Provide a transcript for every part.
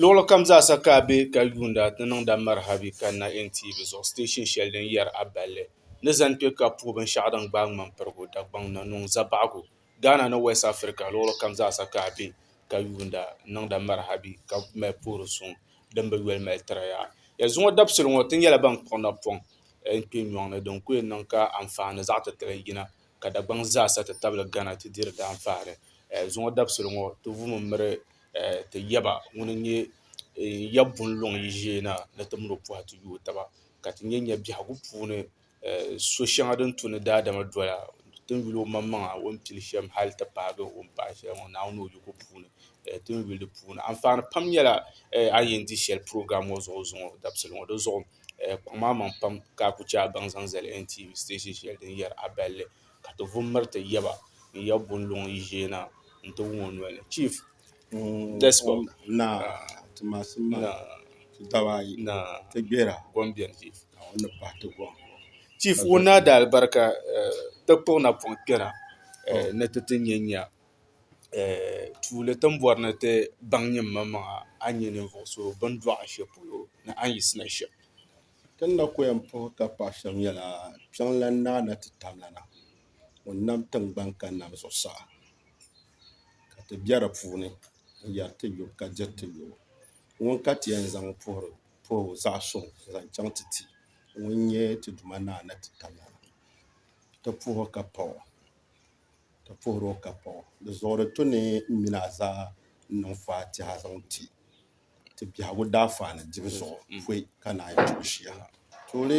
Luɣilikam zaasa ka a be ka yuunda ti niŋda Marhabi kanna NTV zuɣu siteeshin shɛli din yɛri a balli ni zani kpe ka puhi binshɛɣu din gbaai ŋmam'pirigu Dagbaŋ na niŋ zabaɣigu. Ghana ni West Africa luɣilikam zaasa ka a be ka yuunda niŋda Marhabi ka mali puhiri suŋ din bi yoli mali tiri ya. Ya zuŋɔ dabisili ŋɔ ti nyɛla ban kpuɣi napɔŋ n-kpe nyɔŋni din ku yɛn niŋ ka anfaani zaɣ'titali yina ka Dagbaŋ zaa sa ti tabili Ghana ti diri daanfaɣiri. Zuŋɔ dabisili ŋɔ ti vumi miri ti yaba ŋun n-nyɛ ya bunluŋ yi ʒee na ni ti mini o pɔhi ti yooi taba ka ti nya nya biɛhigu puuni so shɛŋa din tu ni daadama doya ti ni yuli omaŋmaŋa o ni pili shɛm hali ti paagi o ni paai shɛli ŋɔ Naawuni ni o yiko puuni ti ni yuli di puuni. Anfaani pam nyɛla a yi yɛn di shɛli program ŋɔ zuɣu zuŋɔ dabisili ŋɔ di zuɣu. Kuɣu maa maŋ pam ka a ku chɛ a baŋ zaŋ zali NTA station shɛli din yɛri A Balli ka ti vu m-miri ti yaba n ya Bunluŋ yi ʒee na nti wum o noli ni. Chief Despot. Naa, ti masim maa ti daba ayi. Naa, ti gbera. Gom beni Chief. Naa, o ni pahi ti gom. Chief, Wunnaadalibarika ti kpuɣi napɔŋ kpɛra ni ti ti nya nya tuuli ti ni bɔri ni ti baŋ nyinimaŋmaŋa a ni nyɛ ninvuɣ so bɛ ni dɔɣi shɛli polo ni a ni yiɣisina shɛm. Ti ni na ku yɛn puhi ka paɣ shɛm nyɛla kpiɔŋlan naa na ti tam la na ŋun nam tiŋgbani ka nam zuɣusaa ka ti be di puuni n-yɛri ti yo ka diri ti yo. Ŋuni ka ti yɛn zaŋ puhiri puhibu zaɣ suŋ n-zaŋ chaŋ ti ti ŋun nyɛ ti Duuma naa na ti tam la na. Ti puhi ka pa o. ka puhiri o ka paɣ o. Di zuɣuri ti ni mini a zaa n-niŋ faatiha zaŋ ti ti biɛhigu daafani dibu zuɣu pɔi ka naanyi ti o shia ha. Tuuli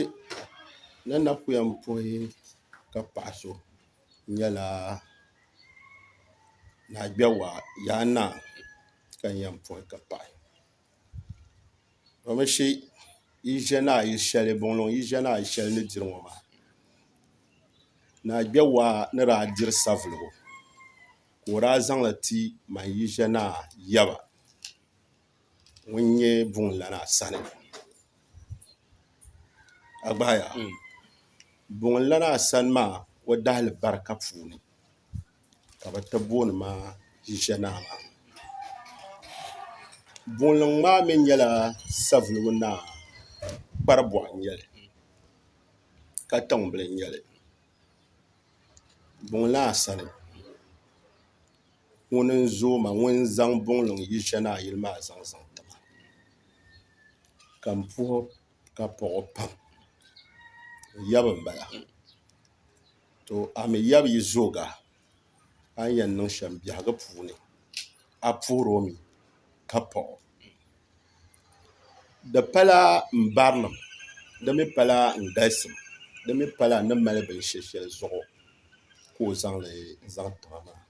ni na ku yɛn puhi ka paɣ so nyɛla Naagbɛwa Yaa Naa ka n yɛn puhi ka paɣi. Domishi yi ʒiɛ ni a yi shɛli buŋluŋ yi ʒiɛ ni a yi shɛli ni diri ŋɔ maa ni a kpɛ waa ni daa diri savelugu ka o daa zaŋli ti man yi ʒiɛ ni a yaba ŋun nyɛ buŋ lana sani a gbaya buŋ lana sani maa o dahali barika puuni ka bɛ ti booni ma Ʒiʒianaa maa. Boonliŋ maa mi nyɛla Savelugu Naa Kparibɔɣu n-nyɛ li Katiŋ bila n-nyɛ li Buŋlaa sani ŋun n-zooi ma ŋun zaŋ Buŋliŋ Ʒiʒianaa yili maa zaŋ zaŋ ti ma ka m puhi ka pɔɣi o pam o yaba m-bala. to a mi yab yi zooga a ni yɛn niŋ shɛm biɛhigu puuni a puhir o mi ka paɣ o. Di pala n barinim, di mi pala n galisim, di mi pala n ni mali binshɛ shɛli zuɣu ka o zaŋ li zaŋ ti ma maa.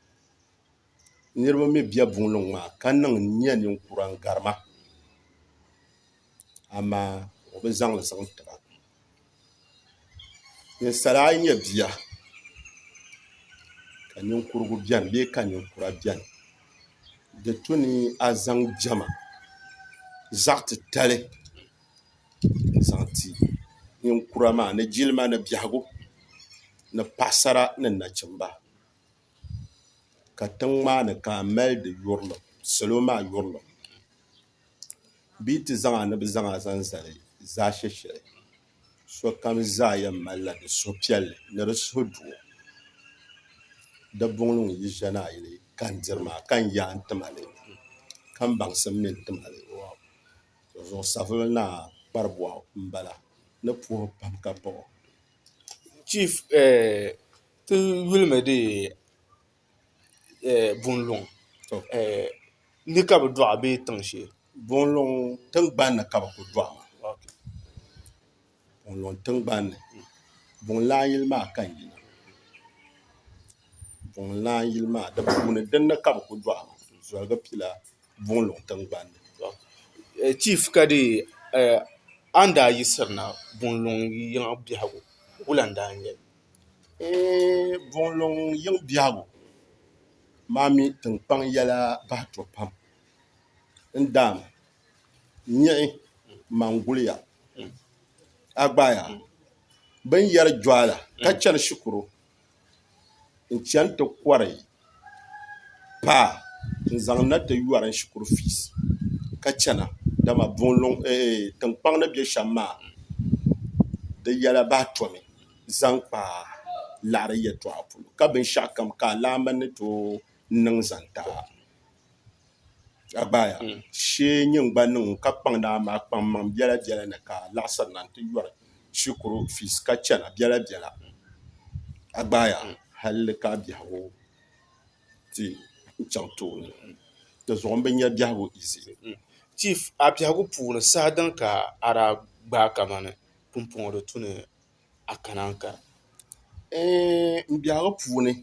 Niriba mi be buŋliŋ maa ka niŋ n nya ninkura n gari ma, amaa o bi zaŋ li zaŋ ti ba. Ninsal ayi nyɛ bia ka ninkurigu biɛni bee ka ninkura biɛni di tu ni a zaŋ diɛma zaɣ titali n zaŋ ti ninkura maa ni jilima ni biɛhagu ni paɣasara ni nachimba ka tiŋ maa ni ka a mali di yurilim salo maa yurilim bee ti zaŋ a ni bɛ zaŋ a zaŋ zali zaashɛshɛli, sokam zaa yɛn malila di suhupiɛlli ni di suhudoo. Dabuŋli ŋun yi ʒiɛni a yili ka n diri maa, ka n yaa n ti ma li, ka m baŋsim mi n ti ma li, zuɣu savili naa kparibɔɣ m-bala ni puhi pam ka paɣ o. bunluŋ ni ka bi dɔɣi bee tiŋ shee? Bunluŋ tiŋgbani ni ka bi ku dɔɣi maa bunluŋ tiŋgbani ni bunlana yili maa ka n yina bunlana yili maa di puuni din ni ka bi ku dɔɣi maa zoligi pila bunluŋ tiŋgbani ni chiif ka dee a ni daa yisiri na bunluŋ yiŋa biɛhigu wula n daa nyɛli Eeh Buŋluŋ yiŋ biɛhigu maa mi tiŋkpaŋ yɛla bahi to pam n daam nyiɣi maŋguliya a gbaaya bini yɛri Juala ka chani shikuru n chani ti kɔri paa n zaŋ na ti yɔri n shikuru fiisi ka chana dama tinkpaŋ ni bɛ shɛm maa di yɛla bahi tomi zaŋ kpa laɣiri yɛltɔɣa puuni ka binshɛɣu kam ka alaamba ni tooi niŋ zaŋ ti a. a gbaaya shee n nyɛ n gba niŋ ka kpaŋ naa maa kpaŋ maŋ biɛla biɛla ni ka laɣasiri na n ti yɔri shikuru fiis ka chɛna biɛla biɛla a gbaaya halli ka biɛhagu ti n chaŋ tooni dinzuɣu n bi nyɛ biɛhagu izi chiif a biɛhagu puuni saha din ka a daa gbaai kamani pumpɔŋɔ di tu ni a kana n kara n biɛhigu puuni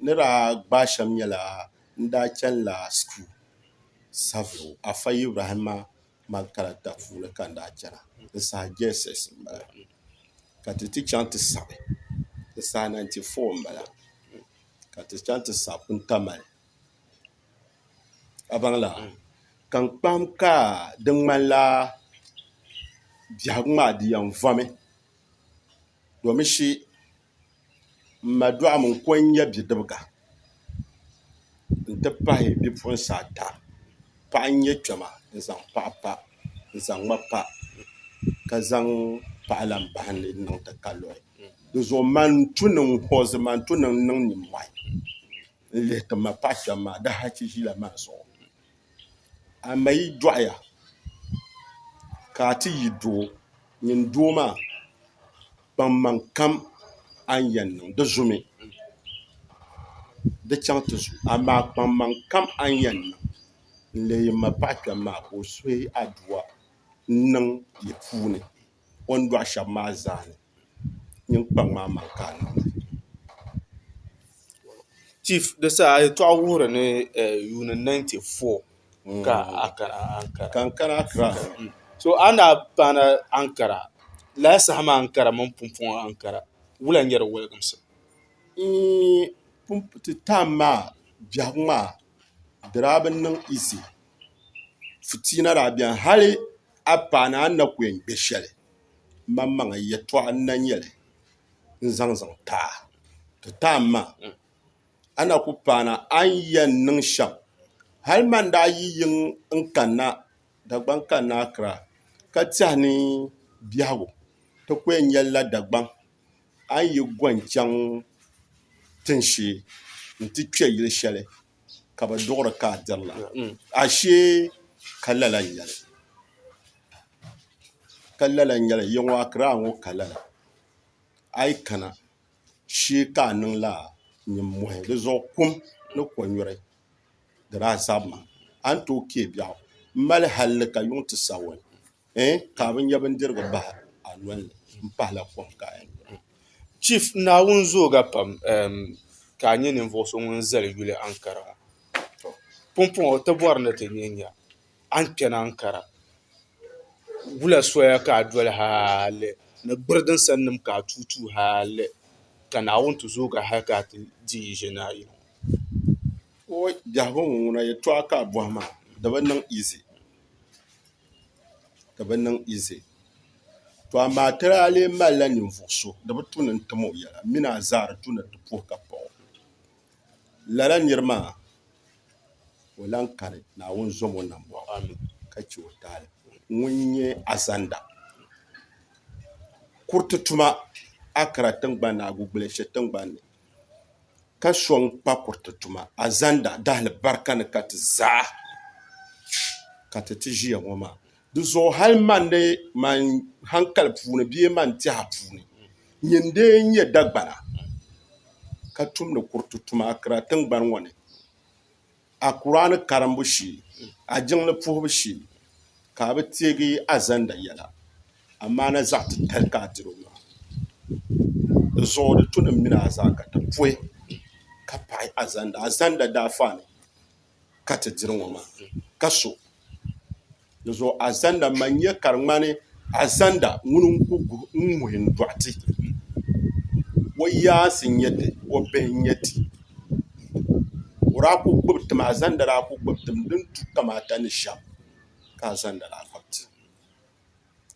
ni daa gbaai shɛm nyɛla n daa chɛnila shikuru sabiri afa ibrahima makaranta puuni ka n daa chɛna n saha jss n bala ka ti ti chɛŋ ti sabi n saha 94 n bala ka ti chɛŋ ti sabi puntamali a baŋla ka n kpahim ka di ŋmanila biɛhigu maa di yɛn vomi domi shi m ma dɔɣim n-ko n-nyɛ bidibiga nti pahi bipuɣinsi ata paɣa n-nyɛ kpɛma n-zaŋ paɣa pa n-zaŋ ma pa ka zaŋ paɣa lahi bahim ni di niŋ ti ka luri di zuɣu man n-tu niŋ hoozi man n-tu niŋ niŋ nimmɔhi n lihi ti ma paɣ shɛm maa di hachi ʒila maa zuɣu a ma yi dɔɣiya ka a ti yi doo nyin doo maa kpaŋmaŋ kam a ni yɛn niŋ di zumi di chaŋ ti zu amaa kpaŋmaŋ kam a ni yɛn niŋ n leei m ma paɣ kpɛm maa ka o suhi a dua n-niŋ yi puuni o ni dɔɣi shɛm maa zaa ni niŋkpaŋ maa mali ka a niŋda chief di saha a yɛltɔɣa wuhiri ni yuuni 94 ka Ankara Accra so a ni paana Ankara lala saha maa Ankara mini Pumpɔŋɔ Ankara wula n-nyɛ di wɔliginsi eeh ti time maa biɛhigu maa di daa bi niŋ easy fitiina daa beni hali a paana a ni na ku yɛn kpe shɛli maŋmaŋa yɛtɔɣa n-na nyɛ li n-zaŋ zaŋ ti a. Ti taai ma, a na ku paana a ni yɛn niŋ shɛm. Hal man daa yi yiŋ n-kanna Dagbaŋ kanna Akra ka tɛhi ni biɛhigu ti ku yɛn nya la Dagbaŋ, a ni yi gɔni chaŋ tin shee nti kpe yili shɛli ka bi duɣiri ka a dirila ashee ka lala n-nyɛli ka lala n-nyɛli yiŋɔ Akiraa ŋɔ ka lala a yi kana shee ka a niŋla nimmɔhi di zuɣu kum ni kɔnyuri di daa zabimi a ni tooi kpee biɛɣu m-mali halli ka yuŋ ti Sawɔni eh ka a bi nya bindirigu bahi a noli ni m-pahila kom ka a yɛn nyura. Chief, Naawuni zooga pam eem ka a nyɛ ninvuɣ so ŋun zali yuli Ankara. Tɔ! Pumpɔŋɔ o ti bɔri ni ti nyɛ nya a ni kpɛni Ankara. Wula soya ka a doli hali ni gbiri din sani nim ka a tuui tuui hali ka Naawuni ti zoogi a hali ka a ti di yi ʒe ni a yi ŋɔ. Oi! Biɛhigu ŋɔ ŋuna yɛtɔɣa ka a bɔhi maa di bi niŋ easy. ka bi niŋ izi. To amaa ti daa lee malila ninvuɣ so di bi tu ni n-tim o yɛla min a zaa di tu ni ti puhi ka paɣ o. Lala nir maa ka o lan kani, Naawuni zom o nambɔɣu ka chɛ o taali. Ŋun nyɛ Azanda kuriti tuma Akra tiŋgbani ni Agugbule shiri tiŋgbani ni. ka sɔŋ pa kuriti tuma azanda dahilibarika ni ka ti zaa ka ti ti ʒiya ŋɔ maa di zuɣu hali man ni man hankali puuni bee man tɛha puuni nyin n-lee nyɛ Dagbana ka tumdi kuriti tuma akira tiŋgbani ŋɔ ni. a Kur'aani karimbu shee, a jiŋli puhibu shee ka a bi teegi a zanda yɛla, amaa na zaɣ titali ka a diri o maa. Di zuɣu di tunim mini a zaa ka ti puhi ka paɣi a zanda, a zanda daafani ka ti diri ŋɔ maa, ka so. Di zuɣu azanda man nya ka di ŋmani azanda ŋuni n-ku guhi n-ŋuhi n-dɔɣi ti. O yaansi n-nyɛ ti, o bihi n-nyɛ ti. O daa ku gbubi tim, azanda daa ku gbubi tim din tu kamaata ni shɛm ka azanda daa gbubi ti.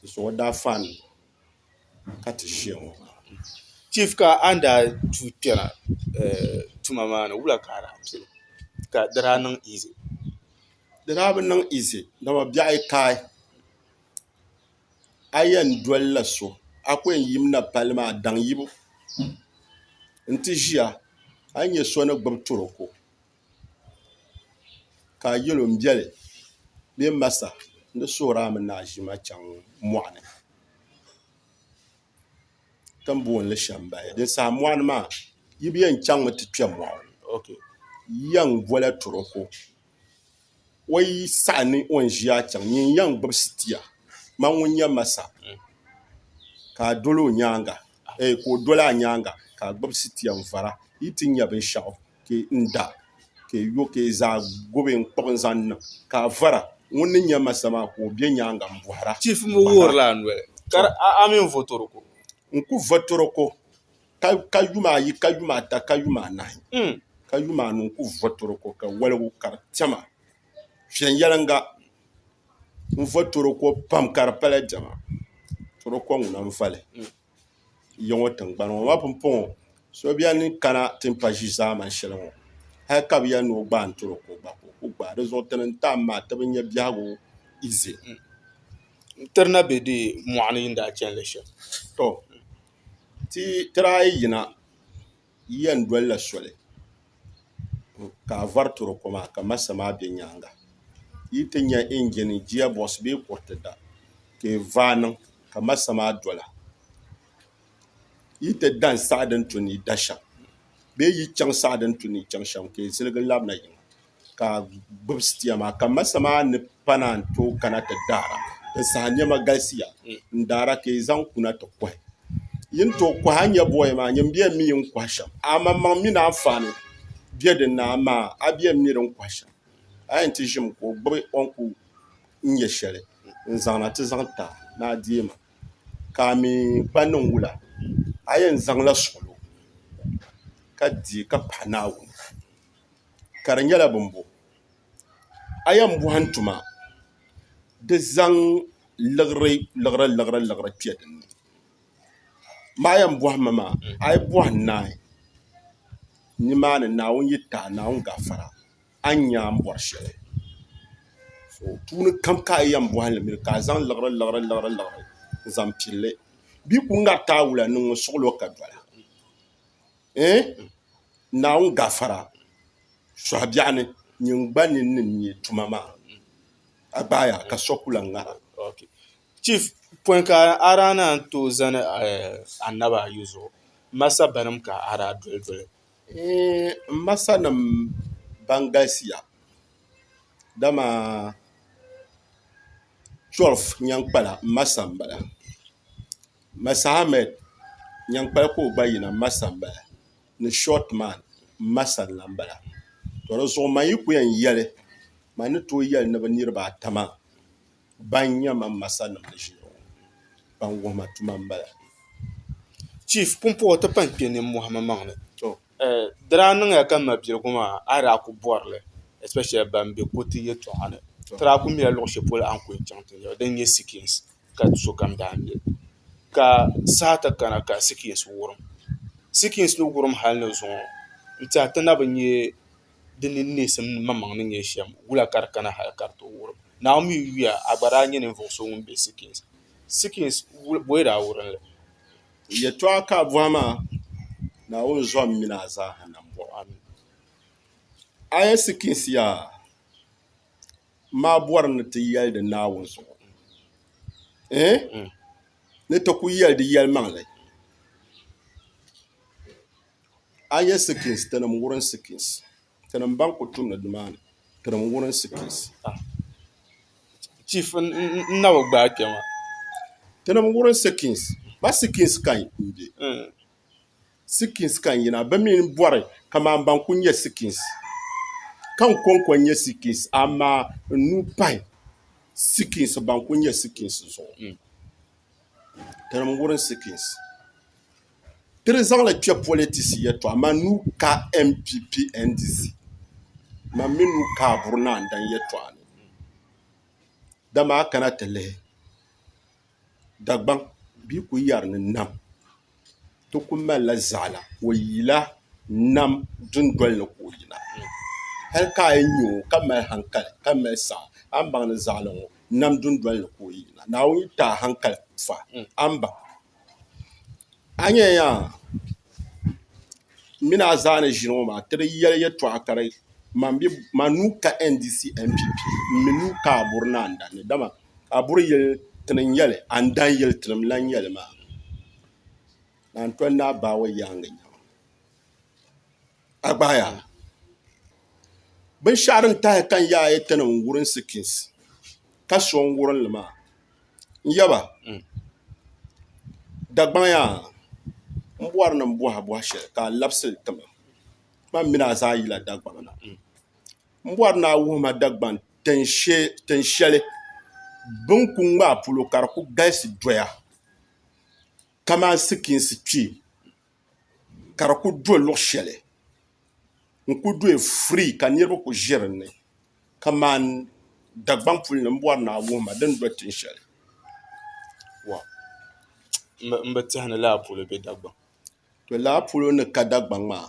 Di zuɣu o daa faani ka ti ʒiya ŋɔ. Chief ka a ni daa tuui kpɛna tuma maa ni wula ka a daa pili ka di daa niŋ easy? di daa bi niŋ izi dama biɛɣu yi kai a yɛn dolila so a ku yɛn yimina palli maa daŋ yibu n ti ʒiya a ni nyɛ so ni gbubi turoko ka a yɛl o n biɛli bee n masa n di suhuri a mini a ʒima chaŋ mɔɣuni ti ni booni li Shɛmbaya din saha mɔɣuni maa yi bi yɛn chaŋmi ti kpɛ mɔɣu yiya n-bola turoko O yi saɣi ni o ni ʒiya chaŋ nyin n-yɛn gbubi sitia, man ŋun nyɛ Masa, ka a dol o nyaaŋa, eei ka o dol a nyaaŋa, ka a gbubi sitia n-vara, yi ti nya binshɛɣu, ka n-da, ka yo, ka zaa gbubi n-kpuɣ n-zaŋ niŋ, ka a vara, ŋun ni nyɛ Masa maa, ka o be nyaaŋa m-bɔhira. Chief mi wuhirila a noli, ka di a a mini Votoroko. N ku Votoroko. ka yuma ayi ka yuma ata ka yuma anahi ka yuma anu n-ku vo toroko ka waligu ka di tɛma viɛnyɛliŋga n-vo toroko pam ka di pala diɛma toroko ŋuna n-vali ya ŋɔ tiŋgbani ŋɔ ma pumpɔŋɔ so beni n-kana ti ni pa ʒi zaamani shɛli ŋɔ hali ka bɛ yɛli ni o gbaai toroko gba ka o ku gbaai di zuɣu ti ni n-tam maa ti bi nya biɛhigu ize. N-tiri na be deei mɔɣu ni yi ni daa chani li shɛm. ti tiraai yina yiya n-doli la soli ka a vari toro ko maa ka masa maa be nyaaŋa yi ti nya injin giya bɔɣisi bee kuriti da ka yi vaai niŋ ka masa maa dola yi ti da n-saɣi din tu ni yi da shɛm bee yi chaŋ saɣi din tu ni yi chaŋ shɛm ka yi ziligi labina yiŋa ka gbubi sitia maa ka masa maa ni pa naan tooi kana ti daara n saha niɛma galisiya n daara ka yi zaŋ kuna ti kohi yi ni tooi kohi a ni nyɛ booya maa nyin bɛn mi n kohi shɛm amaŋmaŋ mini anfaani bɛ din ni amaa a bɛn mi din kohi shɛm a yɛn ti ʒimi ka o gbubi o ni ku nyɛ shɛli n zaŋna ti zaŋ ta ni a deei ma ka a mi kpa niŋ wula a yɛn zaŋla suɣulo ka deei ka pahi naawuni ka di nyɛla bin bo a yɛn bɔhim tuma di zaŋ liɣiri liɣiri liɣiri liɣiri kpɛ din ni maa yɛn bɔhim mi maa a yi bɔhi naai ni maa ni Naawuni yi taai Naawuni gafara a ni nya a ni bɔri shɛli so puuni kam ka a yɛn bɔhi li mi ka a zaŋ liɣiri liɣiri liɣiri liɣiri n-zaŋ pili li bee ka o ŋariti a wula ni ŋun suɣili o ka dɔla. Ɛɛn, Naawuni gafara sɔhi biɛɣu ni nyin gba ni ni nya tuma maa. A gbaaya ka so ku lan ŋara. Ok. Chief, pɔi ka a daa naan tooi zani annabi ayi zuɣu, m ma sabbanim ka a daa doli doli? Ɛɛn, m ma sanim ban galisiya, dama 12 nyaŋ kpala m ma sani m bala. Masahamed nyankpali ka o gba yina masa n bala ni short man masa n lan bala to di zuɣu man yi ku yɛn yɛli man ni tooi yɛli ni bi niriba ata maa ban nyɛ man masa nim ni ʒiya ŋɔ ban wuhi ma tuma n bala. Chief pumpɔŋɔ ti pun kpe ninmɔhi mi maŋ ni di daa niŋya ka ma biligu maa a daa ku bɔri li especially ban be kuriti yɛltɔɣa ni ti daa ku mila luɣi shɛli polo a ni ku yɛn chaŋ ti nyaba din nyɛ sikins ka sokam daa mi ka saha ti kana ka sikins wurim sikins ni wurim hali ni zuŋɔ n tiɛha ti na bi nyɛ di ni neesim maŋmaŋ ni nyɛ shɛm wula ka di kana hali ka di ti wurim naawuni mi yuya a gba daa nyɛ ninvuɣu so ŋun bɛ sikins sikins booyi daa wurimli yɛltɔɣa ka a bɔhi maa naawuni zɔhim mini a zaaha nambɔɣu a ni a yɛn sikins yaa maa bɔri ni ti yɛli di Naawuni zuɣu eh? Hmm. ni ti ku yɛli di yɛlimaŋli a yɛ sikins tinim wurin sikins tinim ban ku tumdi nimaani tinim wurin sikins ah. chief n na bi gbaai kpɛma tinim wurin sikins ba sikins kan n bɛ hmm. Sikins ka n yina. Bɛ mi ni bɔri kaman ban ku nya Sikins. Ka n kɔŋko nya Sikins, amaa n nuu pahi Sikins ban ku nya Sikins zuɣu. Mm. Tinim wurin Sikins. Ti di zaŋli kpe politisi yɛtɔɣa, man nuu ka NPP NDC. Man mi nuu ka Aburi Naandan yɛtɔɣa ni. Dama a kana ti lihi. Dagbaŋ bia ku yɛri ni nam ti ku malila zaɣila o yila nam dundoli ni ka o yina hali ka a yi nya o ka mali hankali ka mali saɣa a ni baŋ ni zaɣili ŋɔ nam dundoli ni ka o yina Naawuni yi ti a hankali m-fa a ni baŋ a ni yɛn nya m mini a zaa ni ʒini ŋɔ maa ti di yɛli yɛtɔɣa ka di man nuu ka NDC mpp m-mi nuu ka Aborina n-dandi dama a buri yili ti ni nyɛli a ni daa yili ti ni lahi nyɛli maa ka n tɔni daa baai o yaangi nyaŋ a gbaya binshɛɣu din tahi ka n yaai yi ti ni n-wurim sikins ka so n wurim li maa n yaba Dagbaŋ yaa m bɔri ni m bɔhi a bɔhi shɛli ka a labisi li ti ma ti ma m mini a zaa yila Dagbaŋ na N bɔri ni a wuhi ma Dagban tin shɛli bɛ ni ku ŋmaai polo ka di ku galisi doya kamani sikiinsi kpee ka di ku do luɣ shɛli n-ku doya firii ka niriba ku ʒe din ni kamani Dagbaŋ puli ni m-bɔri ni a wuhi ma di ni do tin shɛli. M bi tɛhi ni lala polo be Dagbaŋ. Lala polo ni ka Dagbaŋ maa.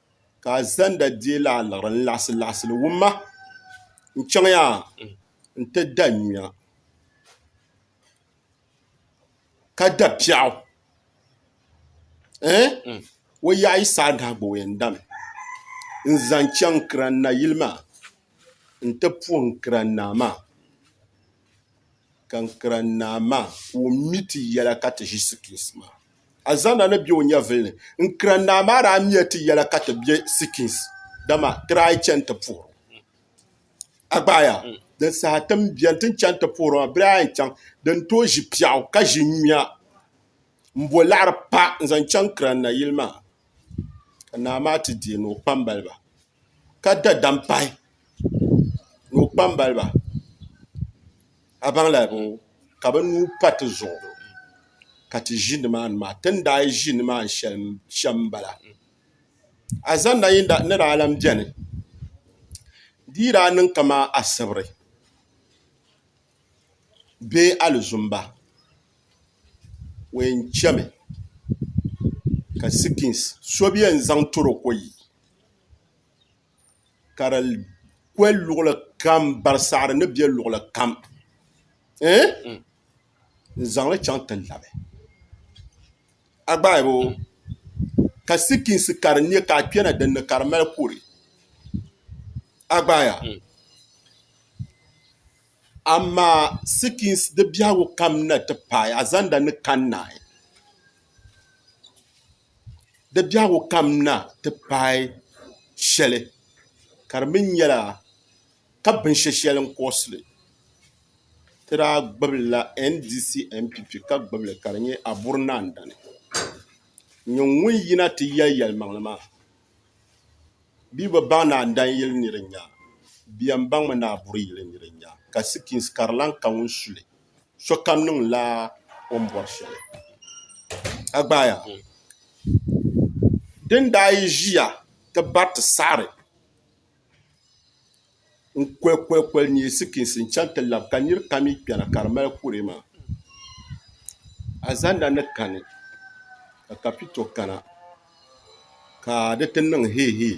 ka a zanda deei la aliɣiri n-laɣisi laɣisi li wumma n-chaŋ ya nti da nyuya ka da piɛɣu ɛɛh o yaɣ yi saai nahi gba o yɛn dami n-zaŋ chaŋ Kiran Nayili maa nti puhi n Kiran Naa maa. ka n kira Naa maa ka o mi ti yɛla ka ti ʒi sikins maa. Alizanda ni be o nyɛvili ni. N kira Naa maa daa miya ti yɛla ka ti be sikins, dama ti daa yi chani ti puhir o. A gbaaya, din saha ti ni beni ti ni chani ti puhir o maa, bɛ daa yɛn chaŋ di ni tooi ʒi piɛɣu ka ʒi nyuya m-bo laɣiri pa n-zaŋ chaŋ kira Naa yili maa, ka Naa maa ti deei ni o kpambaliba. ka da dam pahi ni o kpambaliba a baŋla ka bi nuu pa tizuɣu ka ti ʒi nimaani maa ti ni daa ʒi nimaani shɛm n bala a zaŋda ni daa lahi biɛni di yi daa niŋ kamani asibiri bee alizumba o yɛn chɛmi ka sikins so bi yɛn zaŋ toro ko yi ka di kwe luɣuli kam barisaɣiri ni be luɣuli kam ɛɛn n zaŋli chaŋ ti labi a gbaai bɛ o ka sikiinsi ka di nya ka a kpɛna din ni ka di mali kuri a gbaaya amaa sikiinsi di biɛhigu kam na ti paai a zaŋda ni kani naai di biɛhigu kam na ti paai shɛli ka di mi nyɛla ka binshɛ shɛli n-kurɔsi li ti daa gbibila NDC NPP ka gbibi li ka di nyɛ Aburi Naa Dani. Nyɛ ŋun yina ti yɛli yɛlimaŋli maa bɛ yi bi baŋ Naa Dani yili ni di nya bɛ yɛn baŋmi ni Aburi yili ni di nya ka sikins ka di lahi ka ŋun su li. sokam niŋla o ni bɔri shɛli a gbaaya din daa yi ʒiya ti bariti saɣari n koli koli koli nyɛ sikinsi n chaŋ ti labi ka niri kam mi kpɛna ka di mali kuree maa alizanda ni kani ka kapito kana ka di ti niŋ hee hee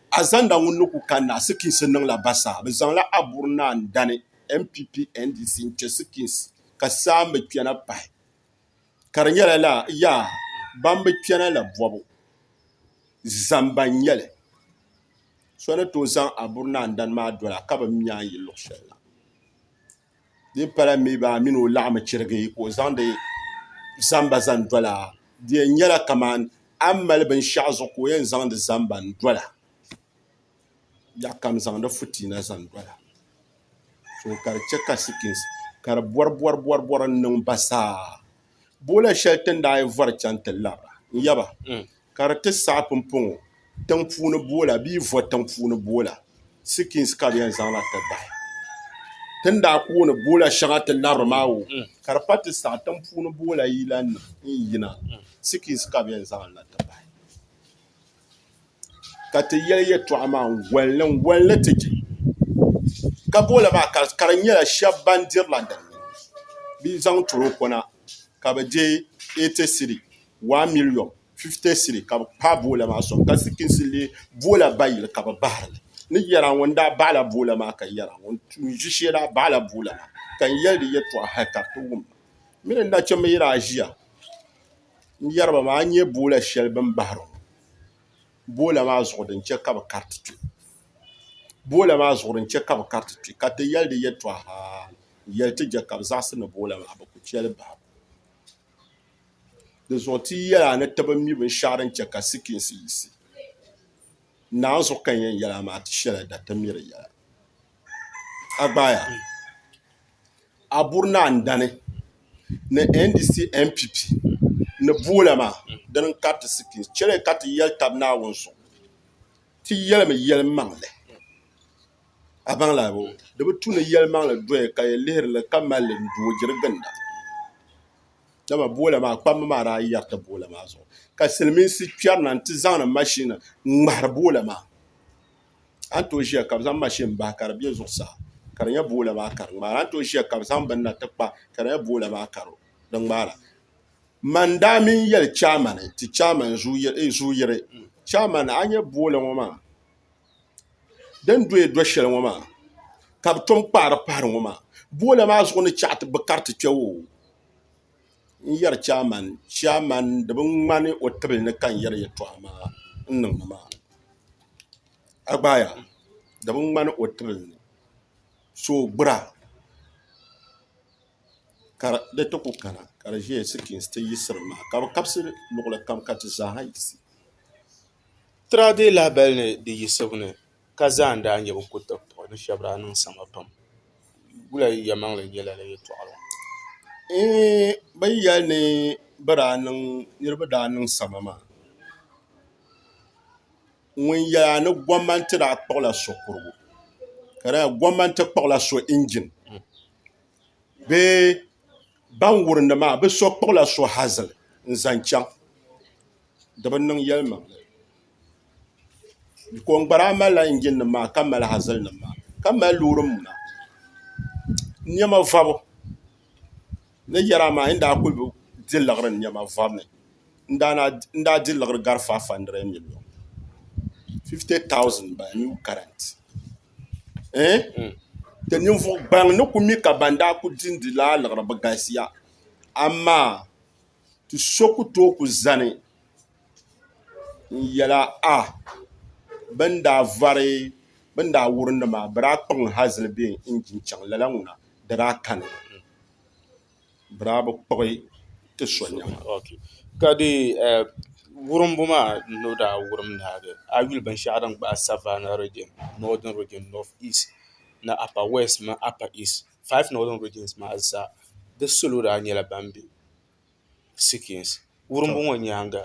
Azanda ŋun ni ku kanna asikiinsi niŋla basaa. Bɛ zaŋla Aburi Naa n-dani NPP NDC n-chɛ sikiinsi ka saa m-bi kpɛna pahi ka di nyɛla lala yaa ban bi kpɛna la bɔbu zamba n-nyɛ li. So ni tooi zaŋ Aburi Naa n-dani maa doli a ka bɛ mi a yi luɣ shɛli la. di pala mi baa a mini o laɣim chirigi ka o zaŋdi zamba zaŋ dola di yɛn nyɛla kamani a ni mali binshɛɣu zuɣu ka o yɛn zaŋdi zamba n-dola ya kam zaŋdi fitiina zaŋ dola ka di chɛ ka sikisi ka di bɔribɔribɔri n-niŋ ba zaa Boola shɛli ti ni daa yɛn vɔri chaŋ ti labira n-yaba ka di ti saɣi pumpɔŋɔ tiŋ puuni boola bee vɔ tiŋ puuni boola, sikins, ka bɛ yɛn zaŋ na ti bahi. Ti ni daa kooni boola shɛŋa ti labiri maa wuhi ka di pa ti saɣi tiŋ puuni boola yilanima n-yina, sikins, ka bɛ yɛn zaŋ li na ti bahi. ka ti yɛli yɛtɔɣa maa n-goli li n-goli li ti je ka bola maa ka di nyɛla shɛba ban diri la din ni bɛ zaŋ toroko na ka bɛ je eighty cedi one million fifty cedi ka bɛ kpaai bola maa sɔŋ ka sikisi leei bola bayi ka bɛ bahiri li ni yɛri a ŋuni daa bahi la bola maa ka yɛri a ŋuni n-ʒi shee daa bahi la bola maa ka n yɛli di yɛtɔɣa hali ka di ti wum ma mi ni nachimba yi daa ʒiya. n yɛriba maa n nyɛ boola shɛli bini bahiri ŋɔ boola maa zuɣu din chɛ ka bɛ kariti kpe boola maa zuɣu din chɛ ka bɛ kariti kpe ka ti yɛli di yɛltɔɣa haa n yɛli ti je ka bɛ zaɣisi ni boola maa bɛ ku che li bahi di zuɣu ti yi yɛli a ni ti bi mi binshɛɣu din chɛ ka sikiinsi yiɣisi naanzuɣu ka n yɛn yɛli a maa ti shɛla da ti mi di yɛla a gbaai a. Abur Naandani ni NDC NPP ni boola maa dini n kariti sipiin chɛli ka ti yɛli tabi naawuni zuɣu ti yɛlimi yɛli maŋli a baŋla bɔ di bi tu ni yɛli maŋli doya ka yi lihiri li ka malli n doo diri ginda dama boola maa kpamba maa daa yɛriti boola maa zuɣu ka silmiinsi kpɛri na n ti zaŋdi mashini n ŋmahari boola maa a ni tooi ʒiya ka bi zaŋ mashin bahi ka di bɛ zuɣusaa ka di nyɛ boola maa ka di ŋmaara a ni tooi ʒiya ka bi zaŋ bini na ti kpa ka di nyɛ boola maa ka di ŋmaara man daa mii yɛli chɛman ti chɛman zu yiri chɛman a ni nyɛ boola ŋo maa din doya do shɛli ŋo maa ka bi tom kpaari pahari ŋo maa boola maa zuɣu ni chɛ ti bi kariti kpɛ woo n yɛri chairman chairman di bi ŋmani o tibili ni ka n yɛri yɛltɔɣa maa n niŋdi maa a gbaaya di bi ŋmani o tibili ni so o gbura ka di ti ku kana ka di ʒɛya sikiriti ti yiɣisiri maa ka bi kabisi luɣuli kam ka ti zaaha yiɣisi ka zaa n daa nyɛ bin kuli taba puɣi ni shɛba daa niŋ sama pam wula yi ya maŋli n yɛla la yɛtɔɣa la eeh ba yi yɛli ni ba daa niŋ niriba daa niŋ sama maa ŋun yɛli ni gɔmnanti daa kpuɣi la so kurigu ka di nyɛla gɔmnanti kpuɣi la so injin bee ban wurim li maa bi so kpuɣi la so hazili n zaŋ chaŋ di bi niŋ yɛlimaŋli. ko n gbara malila injin nim maa ka mali hazili nim maa ka mali loori muna niɛma vɔbu ni yɛri amaa a ni daa kuli di liɣiri niɛma vɔbu ni n daa di liɣiri gari faiv handirɛd miliyon fifti taawusin n bala niw karɛnt ti ninvuɣu gaŋ ni ku mi ka ban daa kuli dindi laa liɣiri bi galisiya amaa ti so ku tooi ku zani n yɛla a bɛ ni daa vari bɛ ni daa wuri ni maa bɛ daa kpuɣimi hazili bɛ injin chaŋ lala ŋuna di daa kani mi bɛ daa bi kpuɣi ti so nɛma ka dee wurimbu maa n ni daa wurim ni maa a yuli binshɛɣu din gbaai savaana riijin nɔɔdin riijin nɔt iist ni apa wɛst mini apa iist faaif nɔɔdin riijins maa zaa di salo daa nyɛla ban be sikins wurimbu ŋɔ nyaaŋa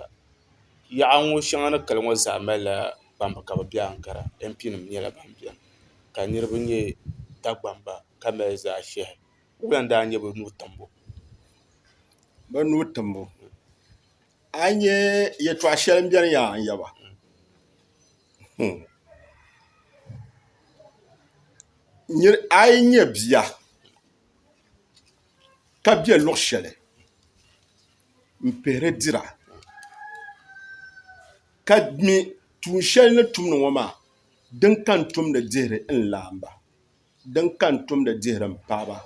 yaɣa ŋɔ shɛŋa ni kali ŋɔ zaa malila kpamba ka bi bɛ ankara mp nim nyɛla ban biɛni ka niraba nyɛ dagbamba ka mali zaɣ ʒiɛhi wula n daa nyɛ bi nuu timbu bi nuu timbu a yi nyɛ yɛltɔɣa shɛli n biɛni yaa n yaba a yi nyɛ bia ka be luɣ shɛli m-pihiri dira ka mi tuun shɛli ni tumdi ŋɔ maa din ka n tumdi dihiri n laamba din ka n tumdi dihiri m paɣiba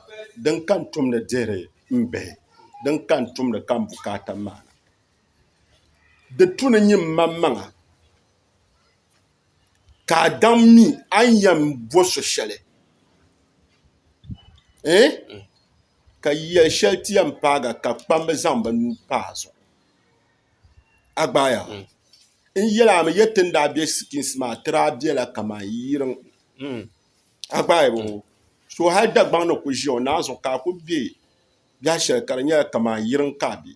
din ka n tumdi dihiri m bihi din ka n tumdi ka m bukaata maana di tu ni nyi m maŋmaŋa ka a daŋ mi a ni yɛn bo so shɛli ɛɛh ka yɛli shɛli ti yɛn paaga ka kpamba zaŋ bɛ nuu pa a zuɣu a gbaaya n yɛli a mi yɛti ni daa be sikiinsi maa ti daa bela kamani yiriŋ a gbaaya bɔ ŋɔ so hali Dagbaŋ ni kuli ʒiya o naan zuɣu ka a kuli be biɛh shɛli ka di nyɛla kamani yiriŋ ka a be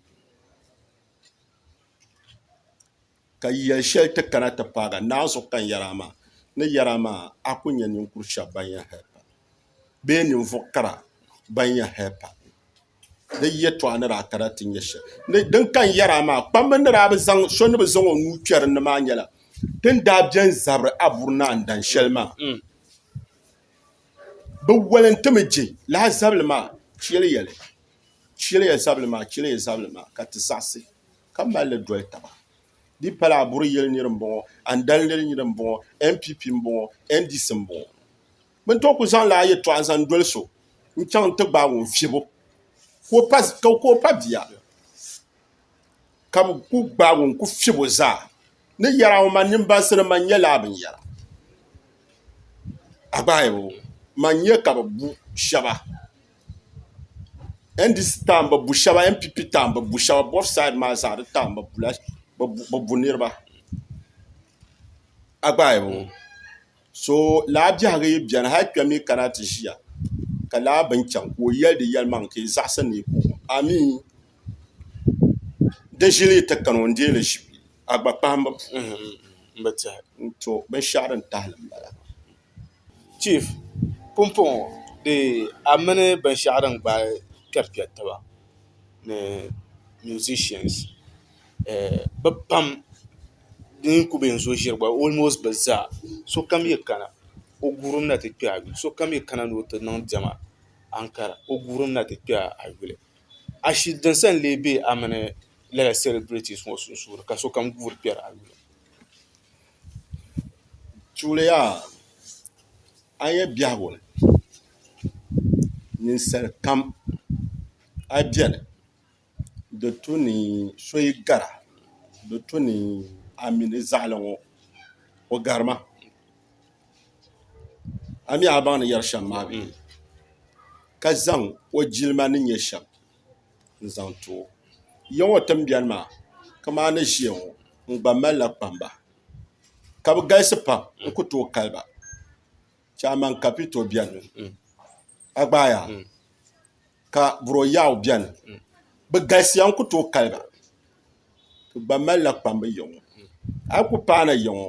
ka yɛli shɛli ti kana ti paag a naai zuɣu kani yɛri a maa, ni yɛri a maa, a ku nya ninkur shɛb bɛn yɛn hal pa, bee ninvuɣ kara bɛn yɛn hal pa di yɛtɔɣa ni daa kana ti nya shɛli. Ni din kani yɛri a maa, kpamba ni daa bi zaŋ so ni bi zaŋ o nuu kpɛri n ni maa nyɛla din daa bɛn zabiri a buri ni a ni dan shɛli maa. Bɛ walintimi je lahi zabili maa, chɛliya li, chɛliya zabili maa, chɛliya zabili maa, ka ti zaɣisi. ka mali li doli taba di pala a buri yeli niri m boŋɔ a ni dali niri niri m boŋɔ npp m boŋɔ ndc m boŋɔ bɛ ni too kuli zaŋla a yeltɔɣa n zaŋ doli so n chaŋ n ti gbaagi o n fiɛbo ka o pa bia ka bɛ kuli gbaagi o n kuli fiɛbo zaa ni yɛri a ŋɔ man nini bansi ni man nya lala binyɛra a gbaai o man nya ka bɛ bu shɛba. NDC taɣim bɛ bu shɛba NPP taɣim bɛ bu shɛba both side maa zaa di taɣim bɛ bula bɛ bu niriba a gba ayi bɔŋɔ so lala biɛhigu yi beni hali kpɛm yi kana ti ʒiya ka lala bini chaŋ ka o yɛli di yɛlimaŋ ka yi zaɣisi ni yi kɔŋ o amii di ʒili yi ti kani o n-deei li ʒibu a gba kpahimbu puuni n-ti binshɛɣu din tahili m-bala Chief pumpɔŋɔ dee a mini binshɛɣu din gbaai kpɛri kpɛri taba ni musicians bi pam di ni ku bɛ n zuɣu ʒiri gba almost bi zaa sokam yi kana o guurimi na ti kpɛ a yuli sokam yi kana ni o ti niŋ diɛma ankara o guurimi na ti kpɛ a yuli ashili din sa n lee bɛ a mini lala celebrities ŋɔ sunsuuni ka sokam guuri kpɛri a yuli. tuliya a yi yɛn biɛhigu ni ninsal kam a biɛni di tu ni so yi gara di tu ni a mi ni zaɣali ŋɔ o gari ma a mi a baŋ ni yɛri shɛm maa bee ka zaŋ o jilima ni nyɛ shɛm n-zaŋ ti o. Ya ŋɔ timbiɛri maa kaman ni ʒiya ŋɔ n-gba malila kpamba, ka bɛ galisi pam n-ku tooi kali ba. Chɛ aman Kapito beni, Agbayaa ka Buro Yaw beni. Bɛ galisiya n-ku tooi kali ba. Bɛ gba malila kpamba ya ŋɔ. A yi ku paai na ya ŋɔ.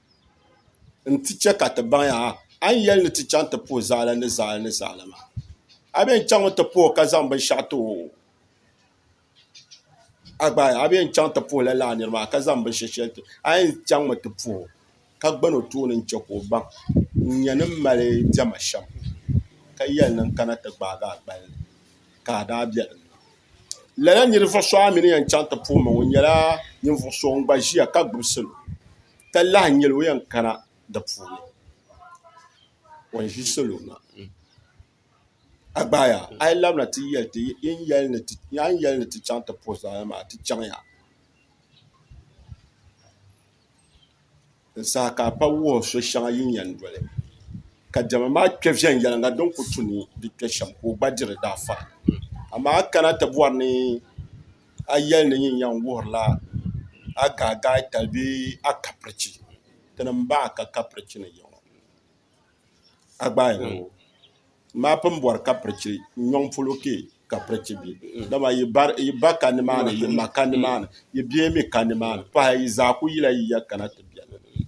n-ti chɛ ka ti baŋ ya ha, a ni yɛli ni ti chaŋ ti puhi zaɣili ni zaɣili ni zaɣili maa, a bee n-chaŋmi ti puhi o ka zaŋ binshɛɣu ti o? A gbaai a bee n-chaŋ ti puhi lala nir maa ka zaŋ binshɛɣu shɛli ti o? A yɛn chaŋmi ti puhi o, ka gbani o tooni n-chɛ ka o baŋ n-nya ni m mali diɛma shɛm, ka yɛli ni n kana ti gbaag a gbali ni, ka a daa be din ni. lala ninvuɣ so a mi ni yɛn chaŋ ti puhi ma ŋɔ nyɛla ninvuɣ so ŋun gba ʒiya ka gbubi salo ka lahi nyɛ li o yɛn kana di puuni o ni ʒi salo maa a gbaaya a yi labina ti yɛli ti a ni yɛli ni ti chaŋ ti puhi zaɣ yini maa ti chaŋya n saha ka a pa wuhi so shɛŋa yi ni yɛn doli ka diɛma maa kpɛ viɛnyɛliŋga din ku tu ni di kpɛ shɛm ka o gba diri daa fara amaa a kana ti bɔri ni a yɛli ni yin yɛn wuhirila a gaagaai tali bee a kapirichi ti ni m-bahi ka kapirichi ni yiŋɔ. a gbaai ha ŋɔ maa pun bɔri ka pirichi nyɔŋ polo kpe ka pirichi be dama yi ba ka nimaani yi ma ka nimaani yi bia mi ka nimaani pahi yi zaa kuli yila yi ya kana ti beni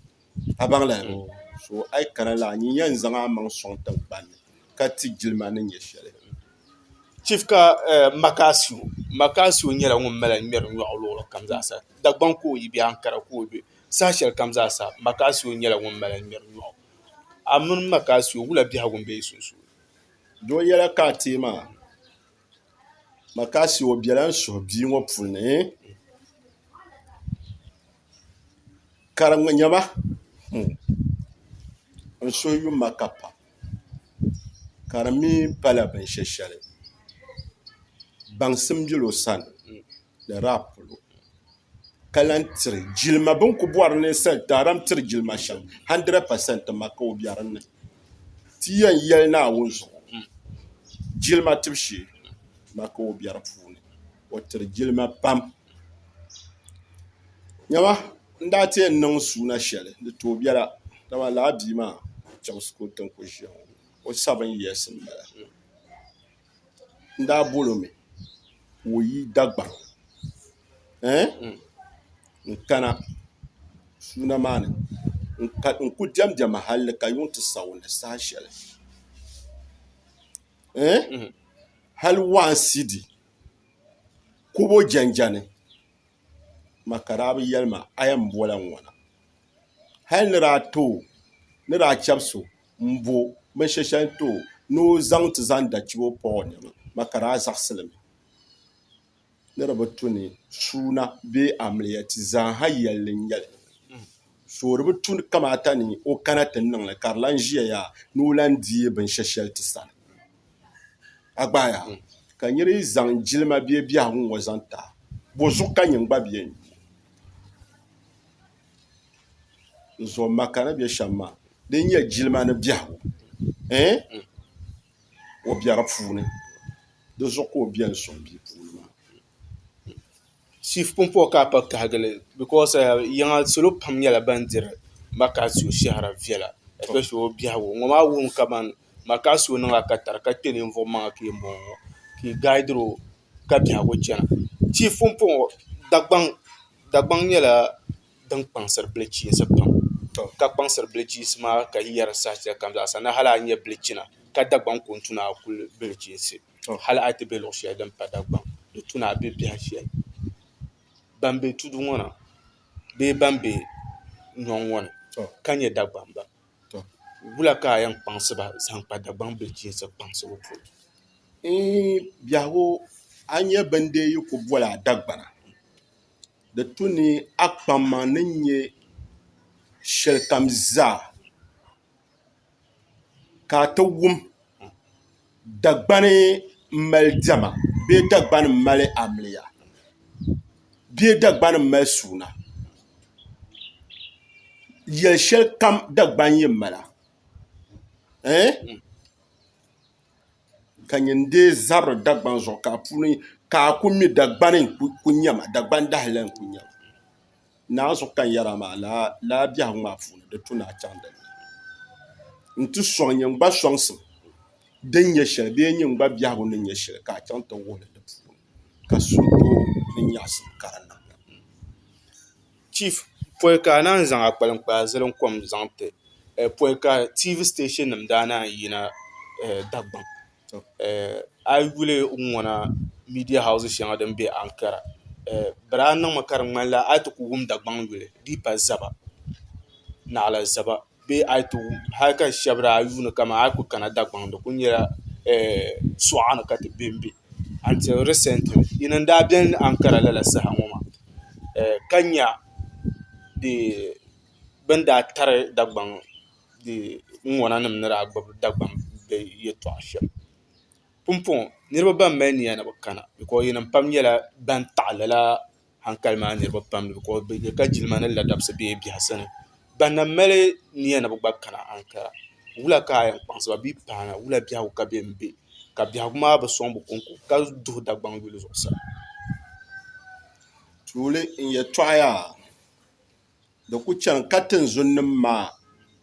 a baŋla hali ŋɔ so a yi kana la nyin yɛn zaŋ a maŋ sɔŋ tiŋgbani ni ka ti jilima ni nyɛ shɛli Chief ka Makaasu Makaasu nyɛla ŋun mali ŋmɛri nyɔɣu luɣuli kam zaa sa Dagbaŋ ka o yi be Ankara ka o be saha shɛli kam zaa sa Makaasu nyɛla ŋun mali ŋmɛri nyɔɣu A mini m ma ka a su, o wula biɛhigu m-be yi sunsuuni. Di o yɛla ka a teei ma? Ma ka a su, o bela n suhu bia ŋɔ puli ni. Ka di nya ma, n suhu yum ma ka pam, ka di mi pala binshɛshɛli, baŋsim bela o sani. ni di daa polo ka lahi tiri jilima bini ku bɔri ni taadaam tiri jilima shɛm handirɛd pasɛnt maa ka o bɛ dinni ti yɛn yɛli naawuni zuɣu jilima tibu shee maa ka o bɛ di puuni o tiri jilima pam niɛma n daa ti yɛn niŋ suuna shɛli di tooi biɛla dama lala bia maa chɛmsi ka o ti ni ku ʒiya ŋɔ o sabiri n yɛlisimi bala n daa bol o mi ka o yi Dagbaŋ n-kana suuna maa ni n-ku diɛm diɛma hal ni ka yuŋ ti sa o ni saha shɛli hal waa n-sidi kub o jɛnjɛni ma ka daa bi yɛli ma a yɛn bol a ŋɔna hal ni daa ti o ni daa chɛbisi o m-bo binshɛli shɛli n-ti o ni o zaŋ ti zaŋ dachibo pa o nɛma ma ka daa zaɣisili mi ni di bi tu ni suuna bee amiliya ti zaaha yɛlli n-nyɛ li so di bi tu kamaata ni o kana ti niŋ li ka di lan ʒiya yaha ni o lan deei binshɛli shɛli ti sani a gba a yaha ka n yuli zaŋ jilima bee biɛhigu ŋ-ŋɔ zaŋ ti a bo zuɣu ka nyin gba beni n zuɣu ma ka ni bɛ shɛm ma di nyɛ jilima ni biɛhigu ɛɛh o bɛ di puuni di zuɣu ka o bɛ n sɔŋ bia puuni maa chief pumpɔŋɔ ka a kpa kahigili because yiŋa salo pam nyɛla ban diri maka so shɛhira viɛla especially o biɛhigu ŋɔ maa wuhimi kamani maka so niŋ a ka tari ka kpɛ ninvuɣ maŋa ka yɛn bɔŋɔ ka i gaaidiro ka biɛhigu chana tia pumpɔŋ Dagbaŋ nyɛla din kpaŋsiri bilichiinsi pam ka kpaŋsiri bilichiinsi maa ka yi yɛri saha shɛli kam zaa sa ni hali a nya bilichina ka Dagbaŋ ku ni tu ni a kuli bilichiinsi hali a yi ti be luɣ shɛli din pa Dagbaŋ di tu ni a be biɛha shɛli ban be tudu ŋɔ na bee ban be nyɔŋ ŋɔ ni ka nyɛ Dagbamba tɔ wula ka a yɛn kpaŋsi ba zaŋ kpa Dagbaŋ bilichiinsi kpaŋsibu puuni? Eeh biɛhigu, a nyɛ bɛn dee yi ku boli a Dagbana, di tu ni a kpamma ni nyɛ shɛlikam zaa ka a ti wum. Dagbani m-mali diɛma bee Dagbani m-mali amiliya bee Dagbani m-mali suuna yɛl' shɛli kam Dagbani yi mala ɛɛh ka nyɛ n-deei zabiri Dagbani zuɣu ka a ku mi Dagbani n-ku nya ma Dagbani dahili la n-ku nya ma Naa zuɣu ka n yɛra maa laa biɛhigu maa puuni di tu ni a chaŋ dinni n ti sɔŋ nyɛ n gba sɔŋsim din nyɛ shɛli bee nyɛ n gba biɛhigu ni nyɛ shɛli ka a chaŋ ti wuhi li di puuni ka suhudoo ni nyaɣisim ka di niŋ chief pɔi ka a naan zaŋ akpaliŋ kpaa zilim kom zaŋ ti pɔi ka TV station nim daa naan yina Dagbaŋ A yi yuli n ŋɔna miidiya hawusi shɛŋa din bɛ Ankara di daa niŋmi ka di ŋmanila a yi ti ku wum Dagbaŋ yuli di yi pa zaba naɣila zaba bee a yi ti wum hali ka shɛba daa yuuni ka a yi ku kana Dagbaŋ di ku nyɛla suɣa ni ka ti bɛnbɛ "until recently" yi ni daa biɛni Ankara lala saha ŋɔ maa ka nya bɛ ni daa tari Dagbaŋ. ŋuna nim ni daa gbubi Dagbaŋ bihi yɛltɔɣa shɛm pumpɔŋɔ niriba ban mali niya ni bi kana bikɔs yinim pam nyɛla ban taɣi lala hankali maa niriba pam bikɔs bi nya ka jilima ni ladamsi bɛ biɛha sani ban na mali niya ni bi gba kana hankali wula ka a yɛn kpaŋsi ba bee paana wula biɛhigu ka bɛ ni bɛ ka biɛhigu maa bi sɔŋ bi kɔŋko ka duhi Dagbaŋ yuli zuɣusaa. Di ku chani ka tinzunnim maa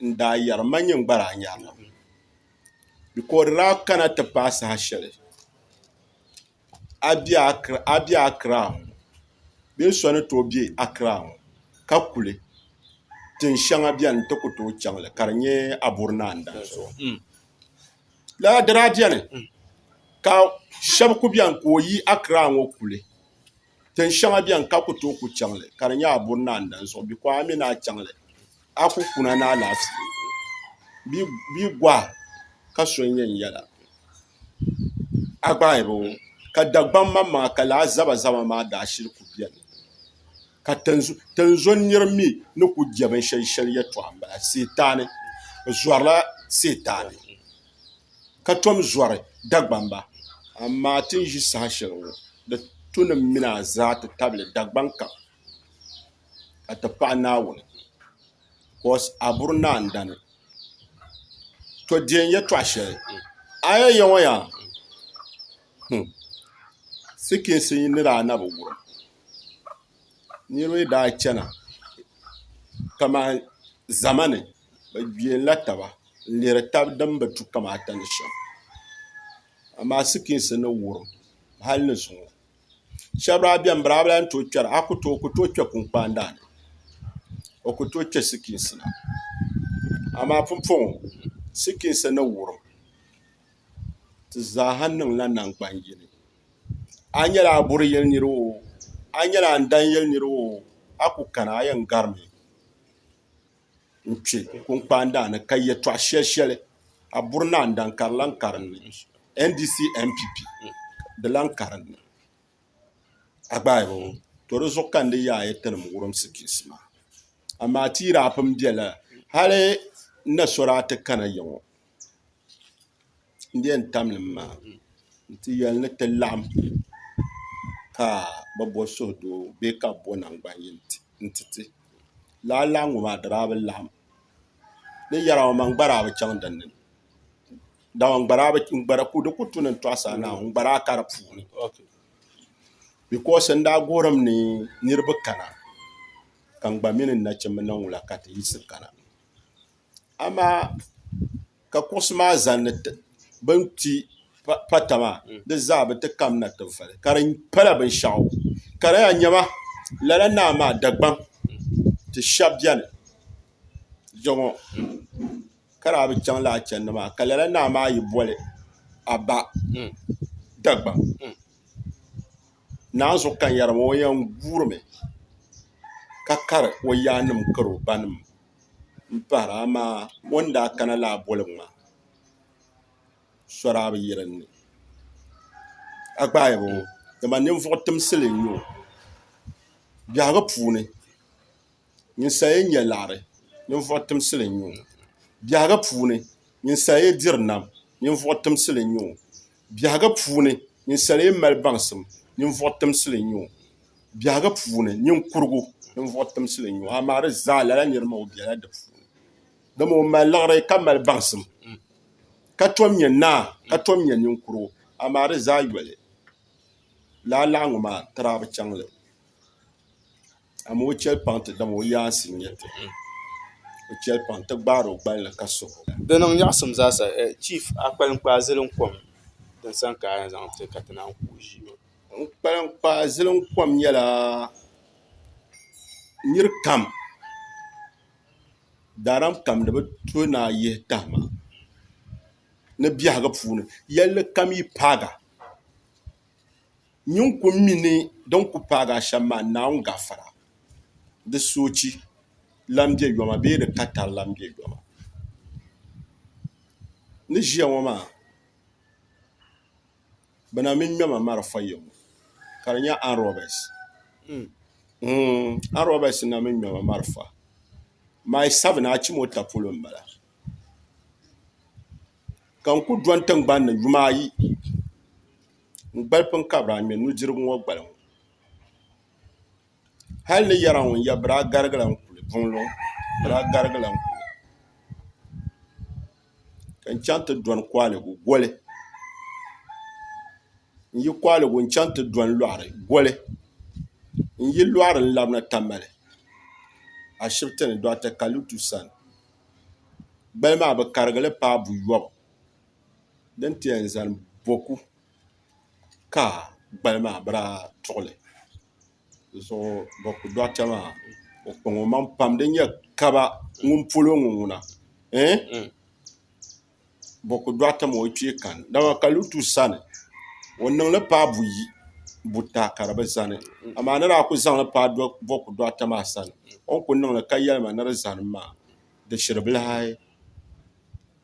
n-daa yɛri, Ma nyin gba daa nyarila ŋɔ, bika o di daa kana ti paai saha shɛli a be Akiraa ŋɔ bee so ni tooi be Akiraa ŋɔ ka kuli tin shɛŋa beni n-ti ku tooi chaŋ li ka di nyɛ Aburi Naa n-danso. Lala di daa beni ka shɛba ku beni ka o yi Akiraa ŋɔ kuli Tin shɛŋa bɛni ka ku tooi ku chaŋ li, ka di nyɛ a buri ni a ndan zuɣu bikɔhi a mi ni a chaŋ li, a ku kuna ni alaafee, bɛ gɔhi ka so n-nyɛ n yɛla a gbahiba ŋɔ, ka Dagbam maŋmaŋa ka lala zabazaba maa daashili ku bɛni, ka tinzɔn nir mi ni ku je binshɛli shɛli yɛtɔɣa m-bala, Sitaani, bɛ zɔrila Sitaani. ka tom zɔri Dagbamba. Amaa ti ni ʒi saha shɛli ŋɔ, di tunim mi ni a zaa ti tabili Dagbaŋ kam ka ti paɣi Naawuni bicos a buri ni a ni dani. To deei n yɛtɔɣ shɛli, a yɛn ya ŋɔ yaa hmm sikiinsi yi ni daa na bi wurim niriba yi daa chana kaman zama ni. bi gbɛla taba n lihiri tabi din bi tu kamata ni shɛm amaa sikiins ni wurim hali ni zuŋɔ shab daa biɛni bi daa bi lahi tooi kpɛra o ku tooi kpɛ kunkpaan daani o ku tooi kpɛ sikiins na amaa pumpɔŋɔ sikiins ni wurim di zaaha niŋla nangbani yini a yi nyɛla a buri yili nira oo a yi nyɛla a ni dan yili nira oo a ku kana a yɛn garimi n kpɛ kunkpaan daa ni ka yɛtɔɣ shɛli shɛli a buri naan daŋ ka di lahi karim ni NDC NPP di lahi karim ni a gbaai bini to di zuɣu ka n ni yaai a yɛtali n wurimsi piisi maa amaa ti yi daa pun bɛ lala hali n na so daa ti kana ya ŋɔ n di yɛn tam nim maa n ti yɛli ni ti laɣam ka bi bo suhudoo bee ka bi bo nangbani yini n ti ti laa lahi ŋɔ maa di daa bi laɣam ni yɛri ŋɔ maa n gba daa bi chɛŋ dinni dama di ku tuni n tɔɣu saa naau n gba daa ka di puuni bikos n daa gorim ni niraba kana ka n gba mini n nachimbi niŋ wula ka ti yiɣisi kana amaa ka kuɣusi maa zanni bini kpi pata maa di zaa bi ti kamina tinvali ka di pala binshaɣu ka di yɛn nyɛba lala naa maa Dagbaŋ ti shɛba bɛni jɛŋɔ ka di a bi chaŋ lala chɛndi maa ka lala naa maa yi boli a ba Dagbaŋ naanzuhi kanyari maa o yɛn guuri mi ka kari o yaanima kari o ba nima. m-pahira amaa o ni daa kana lala boligu maa sɔri a bi yi din ni a gbaai ba ŋɔ dama ninvuɣ timsili n-nyɛ o biɛhigu puuni ninsal yi nya liɣiri ninvuɣ timsili n-nyɛ o biɛhigu puuni ninsal yi diri nam ninvuɣ timsili n-nyɛ o Biɛhiga puuni, ninsal yi mali baŋsim, ninvuɣ timsili n-nyɛ o. Biɛhiga puuni, niŋkurigu, ninvuɣ timsili n-nyɛ o, amaa di zaa lala nir maa o bela di puuni. Dama o mali liɣiri ka mali baŋsim, ka tom nyɛ naa, ka tom nyɛ niŋkurigu, amaa di zaa yoli lala laɣiŋgu maa n-ti daa bi chaŋ li. Amaa o chɛli paŋ ti dam o yaansi n-nyɛ ti. O chɛli paŋ ti gbaari o gballi ka suhi o. Di niŋ nyaɣisim zaa sa, Chief, a kpalim kpaai zilim kom din sani ka a yɛn zaŋ ti ka ti naan ku o ʒii maa. N kpalim kpaai zilim kom nyɛla nir kam daaram kam ni bɛ to ni a yihi tahima ni biɛhigu puuni yɛlli kam yi paagi a. Nyin ku mi ni din ku paagi a shɛm maa, Naawuni gafara, di soochi lan be yoma bee di katari lan be yoma. Ni ʒiya ŋɔ maa, bɛ na min ŋmɛma malifɔ yɛbu, ka di nyɛ arm-robbers. Mm, arm-robbers n-na min ŋmɛma malifɔ. Mai sabina a chim o ta polo m-bala. Ka n ku dɔni tiŋgbani ni yuma ayi, n gbali pun kabiri a ŋmɛ nudirigu ŋɔ gbali ŋɔ hal ni yɛri a ŋun ya biri a garigila n kuli buŋluŋ biri a garigila n kuli ka n chaŋ ti dɔni kɔhiligu goli n yi kɔhiligu n chaŋ ti dɔni lɔɣiri goli n yi lɔɣiri n labina Tamale ashibiti ni Dɔɣita Kalitu sani gbali maa bɛ karigili paai buyɔbu din ti yɛn zani boku ka gbali maa bi daa tuɣili di zuɣu boku dɔɣita maa o kpaŋ o maŋ pam din yɛn kaba ŋun polo ŋɔ ŋuna ɛɛh boku dɔɣita maa o kpee kani dama ka lutu sani o niŋ li paai buyi buta ka di bi zani amaa ni daa kuli zaŋ li paai boku dɔɣita maa sani o ni kuli niŋ li ka yɛli ma ni di zani maa di shiri bilahi.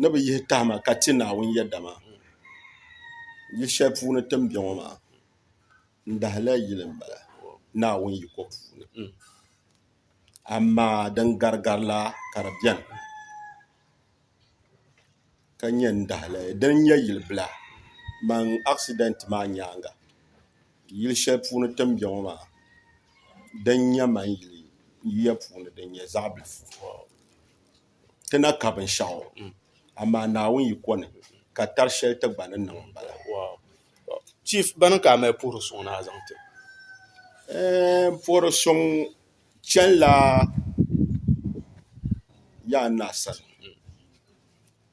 ni bi yihi tahima ka ti Naawuni yɛda maa yili shɛli puuni ti ni bɛ ŋɔ maa n dahila yili n bala Naawuni yiko puuni amaa din gari gari la ka di bɛni ka nyɛ n dahili din nyɛ yili bila amaa asidɛnt maa nyaanga yili shɛli puuni ti ni bɛ ŋɔ maa din nyɛ maŋ yili yuya puuni din nyɛ zaɣ bilifu ti na ka binshɛɣu amaa Naawuni yi kɔni ka tari shɛli ti gba ni niŋ m-bala. Chief, bana ka a mali puhiri suŋ ni a zaŋ ti? Ɛɛh, puhiri suŋ chanila yaa n-na sani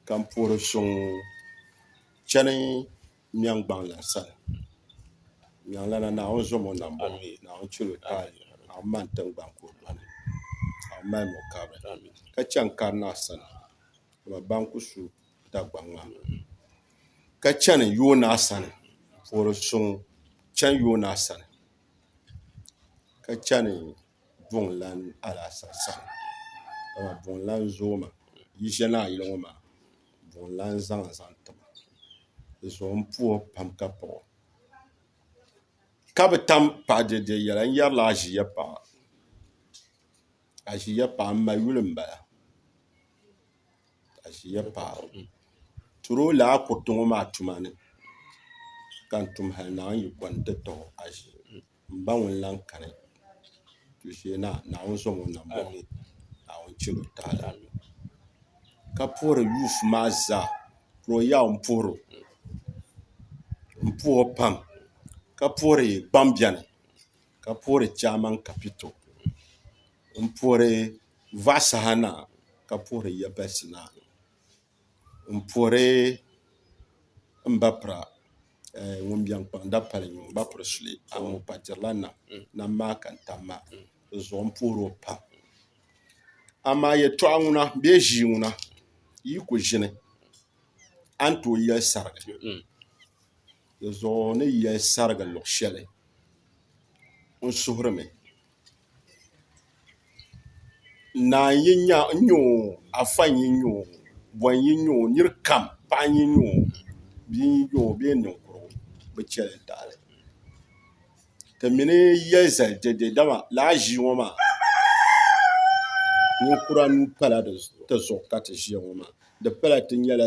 ka m-puhiri suŋ chani. Miɛŋ gbaŋlana sani Miɛŋlana Naawuni zom o nambo Naawuni chɛl o taali Naawuni mani tiŋgbani ka o doli Naawuni malim o kabiri ka chɛ n kari naa sani dama ba n ku su Dagbaŋ maa ka chɛni yoonaa sani n puhiri suŋ chɛni yoonaa sani ka chɛni buŋlan alaasa saha dama buŋlan zoomi yi ʒe ni a yili ŋɔ maa buŋlan zaŋa zaŋ ti ma di zuɣu m puhi o pam ka paɣi o ka bi tam paɣi dɛdɛ yɛla n yɛrila aʒiya paɣa aʒiya paɣa m ma yuli m bala aʒiya paɣa turuli a kuriti ŋɔ maa tuma ni ka n tum hali naawuni yi kɔni ti tɔɣi aʒiya. N ba ŋun lan kani tuuli shee na, Naawuni zom o nambɔŋ ni, Naawuni chɛl o taali ka puhiri yuuf maa zaa, ka o yaw m-puhir o pam, ka puhiri gbambiɛni, ka puhiri Chaman Kapito, m-puhiri Vaa Saha na, ka puhiri Yabɛsi na. n puhiri n ba pira ŋun biɛŋ kpaŋ dapali ŋɔ n ba piri suli amaa o pa dirila nam nam maa ka n tam maa di zuɣu n puhiri o pam amaa yɛltɔɣa ŋuna bee ʒii ŋuna yi ku ʒini a ni tooi yɛli sarigi di zuɣu ni yɛli sarigi luɣ shɛli n suhurimi Naa n-yi nya o n-nya o afa n-yi nya o bɔ n-yi nya o nir kam paɣa n-yi nya o bia n-yi nya o bee niŋkurugu bɛ chɛ li taali ti mini ya zali dɛde dama lala ʒii ŋɔ maa ninkura nuu pala ti zuɣu ka ti ʒiya ŋɔ maa di pala ti nyɛla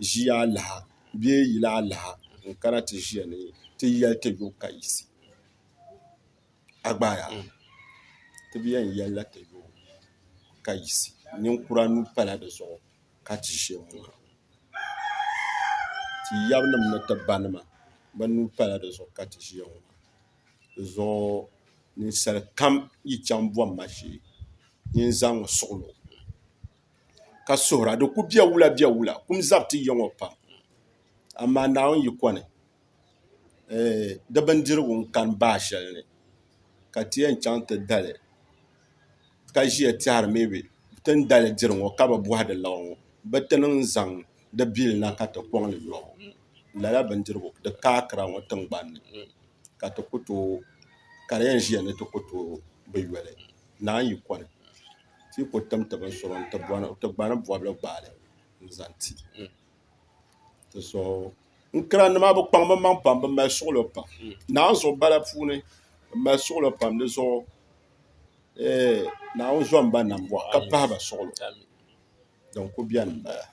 ʒii alaha bee yili alaha n-kana ti ʒiya ni ti yɛli ti yo ka yisi a gbaai a ti bi yɛn yɛli la ti yo ka yisi ninkura nuu pala di zuɣu ka ti ʒe n ŋɔ ti yabinima ni ti banima bɛ nuu pala di zuɣu ka ti ʒe ŋɔ di zuɣu ninsali kam yi chaŋ bom ma shee nyin zaŋ n suɣi lo ka suhira di ku be wula be wula kum zabiti ya ŋɔ pam amaa Naawuni yiko ni di bindirigu n kani bahi shɛli ni ka ti yɛn chɛŋ ti dali ka ʒiya tɛhari mii bɛ ti ni dali diri ŋo ka bi bohadi laba ŋo bi ti niŋ zaŋ di bili na ka ti kɔŋli nyoɣu ŋo lala bindirigu di ka akira ŋo tingbanni ka di yɛn ʒiya ni ti ku tooi bi yoli naan yi kɔli ti yi ku tim ti bin sɔro n ti gbani bobli gbaali n zaŋ ti n kirannima bi kpaŋ bi maŋ pam bi mali suɣulo pam naawuni zuɣu bala puuni bi mali suɣulo pam di zuɣu naawuni zom ba nam bɔɣu ka pahi ba suɣulo din ku bɛni n bala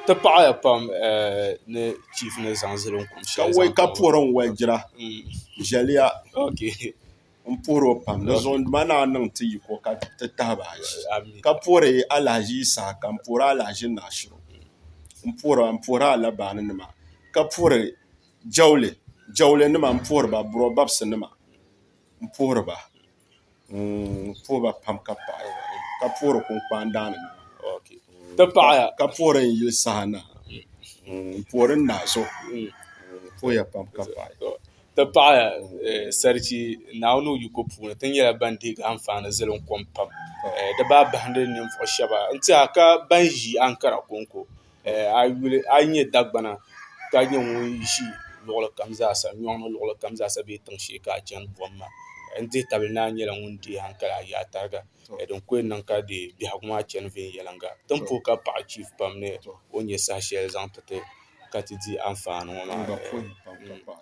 ti paɣaya pam ni chiif ni zaŋ zali n kum shɛli zaŋ kpaŋ ka woli ka puhiri n woli jira ʒɛliya n puhiri o pam di zuɣu duma naan niŋ ti yiko ka ti tahiba azi ka puhiri alahazi yi saha ka n puhiri alahazi naashiro n puhira n puhiri alabaani nima ka puhiri jawuli jawuli nima n puhiri ba buro babisi nima n puhiri ba n puhi ba pam ka paɣi ka puhiri kunkpani daani ka puhiri n yuli saha na n puhiri n naɣaso n puhiya pam ka paɣi. ti pahi Sarchi Naawuni o yiko puuni ti nyɛla ban deei gi anfaani zilim kom pam di baa bahindi ninvuɣu shɛba n tiɛha ka ban ʒi Ankara kɔŋko a yi nyɛ Dagbana ka nyɛ ŋun ʒi luɣuli kam zaa sa nyɔŋ ni luɣuli kam zaa sa bee tiŋ shee ka a chani buɣim maa n dihi tabili ni a nyɛla ŋun deei hankali a yaai tariga din ko n-niŋ ka di biɛhigu maa chani viɛnyɛliŋga din pooi ka paɣi chiifu pam ni o nya saha shɛli zaŋ ti ti ka ti di anfaani ŋɔ maa.